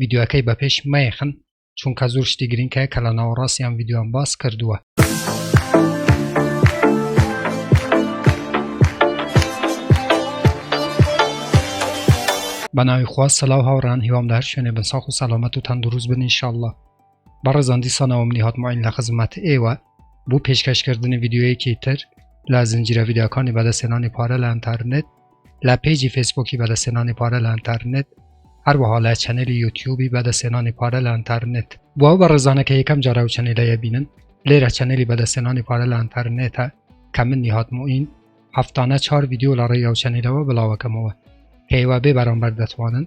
ڤیدیۆکەی بە پێش مەیەخن چونکە زۆر شتی گرنگ هەیە کە لە ناوەڕاستیان ڤیددیوان باس کردووە. بەناوی خوا سەلاو هاوڕان هیوام دار شوێنێ بە ساخ و سەلامەت و تەندروست بن انشاءله بەڕێزان دیسانەوە منی هاتماین لە خزمەت ئێوە بۆ پێشکەشکردنی ڤیددیوەیەکی تر لە زنجیرە ڤیددیوەکانی بەدەستێنانی پارە لە ئەتەرنێت لە پەیجی فەیسبووکی بەدەستهێنانی پارە لە ئەنتەرنێت هەروەها لە چەنێلی یوتیوبی بەدەستهێنانی پارە لە ئەنتەرنێت بۆ ئەو بەڕێزانە کە یەکەم جارە و چەنێلەیە بینن لێرە چەنێلی بەدەستهێنانی پارە لە ئەنتەرنێتە کە من نیهات موئین هەفتانە چوار ڤیدیۆ لە ڕێی ئەو چەنێلەوە بڵاوەکەمەوە کە ئێوە بێ بەرامبەر دەتوانن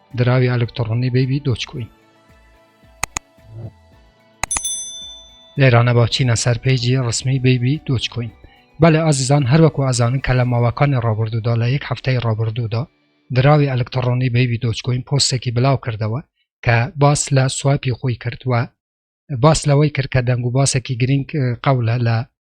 دراوی ئەلکتڕۆنی بەیبی دۆچکوین لێرانە با چینە سەر پێیجی ڕسمی بەیبی دۆچکوین بەلێ ئازیزان هەروەکو ئازانن کە لە ماوەکانی ڕابردوودا لە یەک هەفتەی ڕابردوودا دراوی ئەلکتڕۆنی بەیبی دۆچکوین پۆستێکی بلاو کردەوە کە باس لە سوپی خۆی کرد و باس لەوەی کرد کە دەنگ و باسێکی گرنگ قەولە لە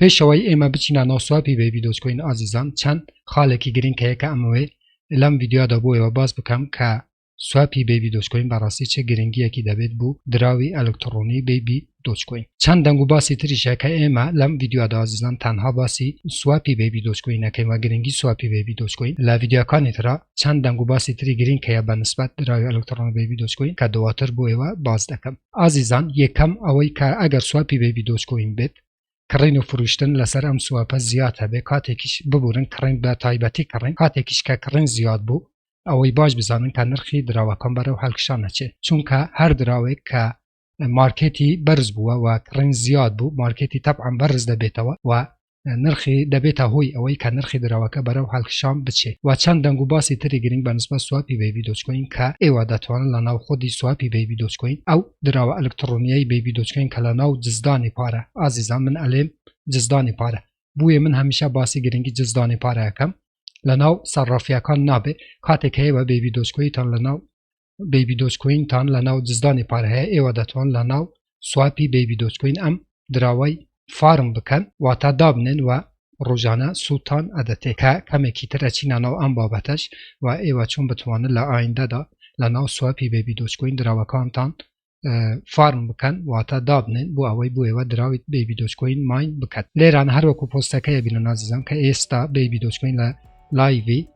پێشەوەی ئێمە بچینە ناو سواپی بەیبی دۆجکۆین ئازیزان چەند خالێکی گرنگ کە یەکە ئەمەوەی لەم ڤیددیودا بۆیەوە باس بکەم کە سواپی بەیبی دۆچکۆین بەڕاستی چه گرنگیەکی دەبێت بوو دراوی ئەلکتڕۆنی بەیبی دۆچکۆین چەند دەنگ و باسی تریشە کە ئێمە لەم ڤیددیودا ئازیزان تەنها باسی سواپی بەیبی دۆچکۆین نەکەین و گرنگی سواپی بەیبی دۆچکۆین لە ڤیددیوکانی ترا چەند دەنگ و باسی تری گرنگ کە بە نسبەت دراوی ئەلکتڕۆن بەیبی دۆچکۆین کە دواتر بۆیەوە باس دەکەم ئازیزان یەکەم ئەوەی کە ئەگەر سواپی بەیبی دۆچکۆین بێت کڕین و فروشتن لەسەر ئەم سوپە زیاد هەبێ کاتێکیش ببورن کڕین بە تایبەتی کڕین کاتێکیش کە کڕین زیاد بوو ئەوەی باش بزانن کە نرخی دراوەکان بەرەو هەلکشان نەچێت چونکە هەر دراوێک کە مارکێتی بەرز بووە و کڕین زیاد بوو مارکێتی تەبعەم بەرز دەبێتەوە و نرخی دەبێتە هۆی ئەوەی کە نرخی دراوەکە بەرەو هەلکشان بچێ و چەند دەنگ و باسی تری گرنگ بە نسبە سوپی بەیبی دۆچکۆین کە ئێوە دەتوانن لە ناو خودی سوپی بەیبی دۆچکۆین ئەو دراوە ئەلکتڕۆنیەی بەیبی دۆجکۆین کە لە ناو جزدانی پارە ئازیزان من ئەلێم جزدانی پارە بویە من هەمیشە باسی گرنگی جزدانی پارە ئەکەم لە ناو سەرڕافیەکان نابێ کاتێک هەیە بە بەیبی دۆجکۆیتان لە ناو بەیبی دۆجکۆینتان لە ناو جزدانی پارە هەیە ئێوە دەتوان لە ناو سواپی بەیبی دۆجکۆین ئەم دراوەی فارم بکەن واتا دابنێن و ڕۆژانە سوودتان ئەدەتێ کە کەمێکی تر ئەچینە ناو ئەم بابەتەش و ئێوە چۆن بتوانن لە ئایندەدا لە ناو سواپی بەیبی دۆجکۆین دراوەکانتان فارم بکەن واتە دابنێن بۆ ئەوەی بۆ ئێوە دراویت بەیبی دۆچکۆین ماین بکەن لێران هەروەکو پۆستەکەی بینە نازیزان کە ئێستا بەیبی دۆچکۆین لە لایڤی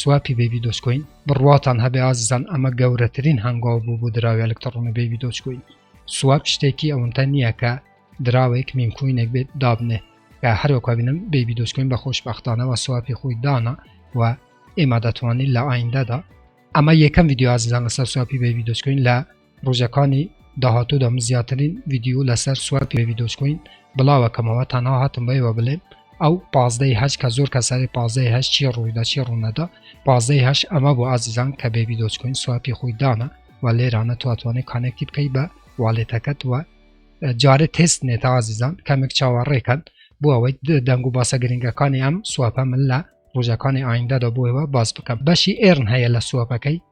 سواپی بەیبی دۆجکۆین بڕواتان هەبێ ئازیزان ئەمە گەورەترین هەنگاو بوو بۆ دراوی ئەلکتڕۆنی بەیبی دۆجکۆین سواب شتێکی ئەوەنتە نییە کە دراوێک میمکوینێک بێت دابنێ کە هەروەکو بینم بەیبی دۆجکۆین بە خۆشبەختانەوە سواپی خۆی دانا و ئێمە دەتوانین لە ئایندەدا ئەمە یەکەم ویددیو ئازیزان لەسەر سواپی بەیبی دۆجکۆین لە ڕوژەکانی داهاتوودا من زیاترین ڤیدیۆ لەسەر سواب پێ ڤیدۆچکۆین بڵاوەکەمەوە تەنها هاتم بە ئێوە بلێم ئەو پازدەی هەش کە زۆر کەسەری پازدەی هەش چی ڕوویدا چی ڕوونەدا پازدەی هەش ئەمە بۆ ئازیزان کە بێ ڤیدۆچکۆین سوابی خۆی دانە و لێرانە تواتوانێت کانێکتی بکەی بە والێتەکەت وە جارێ تست نێتە ئازیزان کەمێک چاوەڕێکەن بۆ ئەوەی دەنگ و باسە گرنگەکانی ئەم سوپە من لە ڕۆژەکانی ئایندەدا بۆەوە باز بکەم بەشی ئێرن هەیە لە سوپەکەی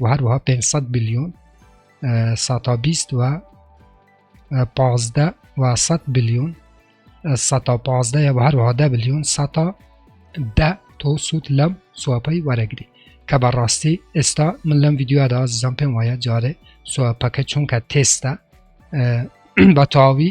و هەروەها 500 بلیۆن ساتا بیست و پازدە و 100 بلیۆن ساتا پازدە و هەروەها دە بلیۆن ساتا دە تۆ سوود لەم سوپەی وەرەگری کە بەڕاستی ئێستا من لەم یددیودا ئازیزان پێم وایە جارێ سوپەکە چونکە تێستە بە تاوی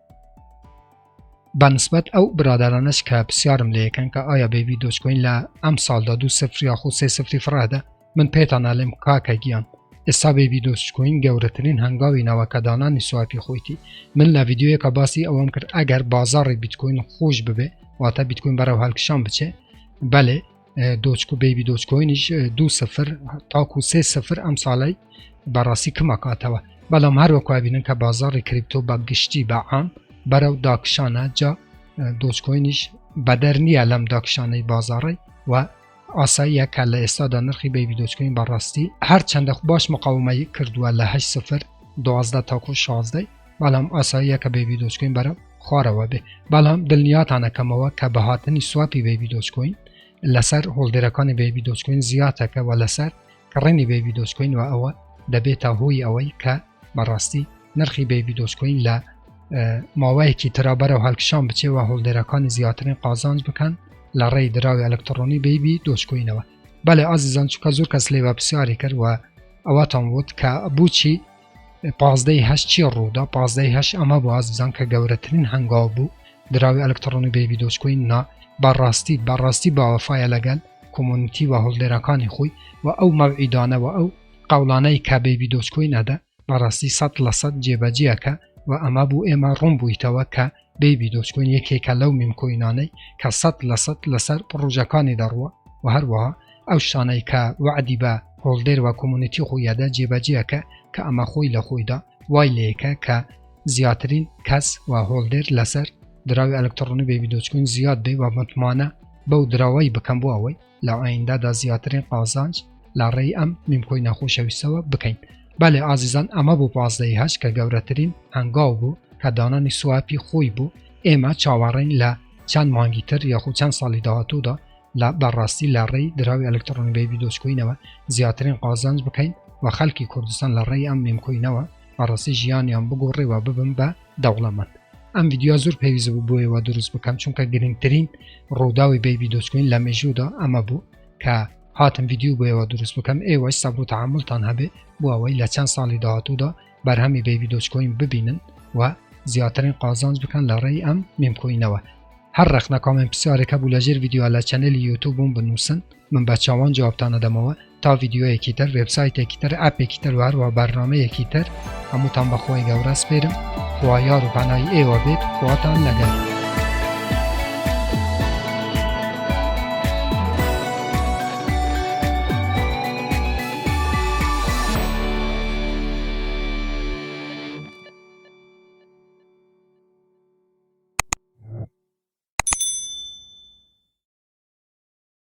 بە نسبەت ئەو برادرانەش کە پرسیارم لەکەن کە ئایا بەبی دۆچکۆین لە ئەم ساڵدا دو سفر یاخو سێ سفری فڕادە من پێتان نالێم کاکە گیان ئێستا بەبی دۆچکۆین گەورەترین هەنگاوی ناوەکەدانانی سوایپی خۆیتی من لە یددیوەکە باسی ئەوەم کرد ئەگەر بازاڕی بیتکۆین خۆش ببێ واتە بیتکۆین بەرەو هەلکشان بچێ بەێ دۆچک و بەیبی دۆچکۆینیش دو سفر تاکو سێ سفر ئەم ساڵی بەڕاستی کمەکاتەوە بەڵام هەروەکوبینن کە بازاری کریپتۆ بە گشتی بە عام بەرەو داکشانە جا دۆچکۆینیش بەدەر نییە لەم داکشانەی بازاڕی و ئاساییە کە لە ئێستادا نرخی بەیبی دۆچکۆین بەڕاستی هەر چنددە باش مقاومەی کردووە لە هە سفر دوازدە تاکو شازدەی بەڵام ئاساییە کە بەیبی دۆجکۆین بەرە خوارەوە بێ بەڵام دڵنیاتان ئەکەمەوە کە بە هاتنی سواپی بەیبی دۆجکۆین لەسەر هۆڵدێرەکانی بەیبی دۆجکۆین زیاتەکەوە لەسەر کڕینی بەیبی دۆجکۆین و ئەوە دەبێتە هۆی ئەوەی کە بەڕاستی نرخی بەیبی دۆجکۆین لە ماوەیەکی ترابەرە و هەڵکشان بچێەوە هۆڵدێرەکانی زیاترین قازانج بکەن لە ڕێی دراوی ئەلکترۆنی بەیبی دۆجکۆینەوە بەڵێ ئازیزان چکە زۆر کەس لێوە پرسیاری کرد و ئەوەتان وت کە بچی پازدەی هەشت چی ڕوودا پازدەی هەشت ئەمە بۆ ئاز بزان کە گەورەترین هەنگاو بوو دراوی ئەلکتڕۆنی بەیبی دۆچکۆین نا بەڕاستی بەڕاستی باوەفاە لەگەل کۆمۆنیتی و هەڵدێرەکانی خۆی و ئەو مەوعیدانە و ئەو قەوڵانەی کە بەیبی دۆچکۆین ئەدا بەڕاستی سەد لە سەد جێبەجێەکە و ئەمە بوو ئێمە ڕوون بوویتەوە کە بەیبی دۆجکۆین یەکێکە لەو میم کۆینانەی کە سەد لە سەد لەسەر پڕۆژەکانی دەڕوە و هەروەها ئەو شتانەی کە وەعدی بە هۆڵدێر و کۆمونیتی خۆیەدا جێبەجێەکە کە ئەمە خۆی لە خۆیدا وای لەیەکە کە زیاترین کەس و هۆڵدێر لەسەر دراوی ئەلکتڕۆنی بەیبی دۆجکۆین زیاد بێ و متمانە بەو دراوەی بکەم بۆ ئەوەی لە ئایندادا زیاترین قازانج لە ڕێی ئەم میمکۆینە خۆشەویستەوە بکەین بەێ ئازیزان ئەمە بۆ پازدەی هەش کە گەورەترین هەنگاو بوو کە دانانی سوواپی خۆی بوو ئێمە چاوەڕین لە چەند مانگی تر یاخو چەند ساڵی داهاتوودا لە بەڕاستی لە ڕێی دراوی ئەلکترۆنی بەیبی دۆچکۆینەوە زیاترین قازانج بکەین و خەلکی کوردستان لە ڕێی ئەم نیمکۆینەوە بەڕاستی ژیانیان بگۆڕێ و ببم بە دەوڵەمەند ئەم ڤیدیۆ زۆر پێویست بوو بۆیە وا دروست بکەم چونکە گرنگترین ڕووداوی بەیبی دۆچکین لە مێژوودا ئەمە بوو کە هاتم ڤیددیو بۆیەوە دروست بکەم ئێوەش سەبوو تعاملتان هەبێ بۆ ئەوەی لە چەند ساڵی داهاتوودا بەرهەمی بەیبی دۆچکۆین ببینن و زیاترین قازانج بکەن لە ڕێی ئەم مێمکۆینەوە هەر ڕخنە کامێن پرسیارێکە بوو لە ژێر ڤیددیوە لە چەنەلی یوتوبووم بنووسن من بە چاوان جوابتانەدەمەوە تا ڤیدیۆیەکی تر وێبسایتێکی تر ئاپێکی تر وهروە بەرنمەیەکی تر هەمووتان بەخۆی گەورە سپێرم خوا یار و پەنای ئێوە بێت خواتان لەگەن.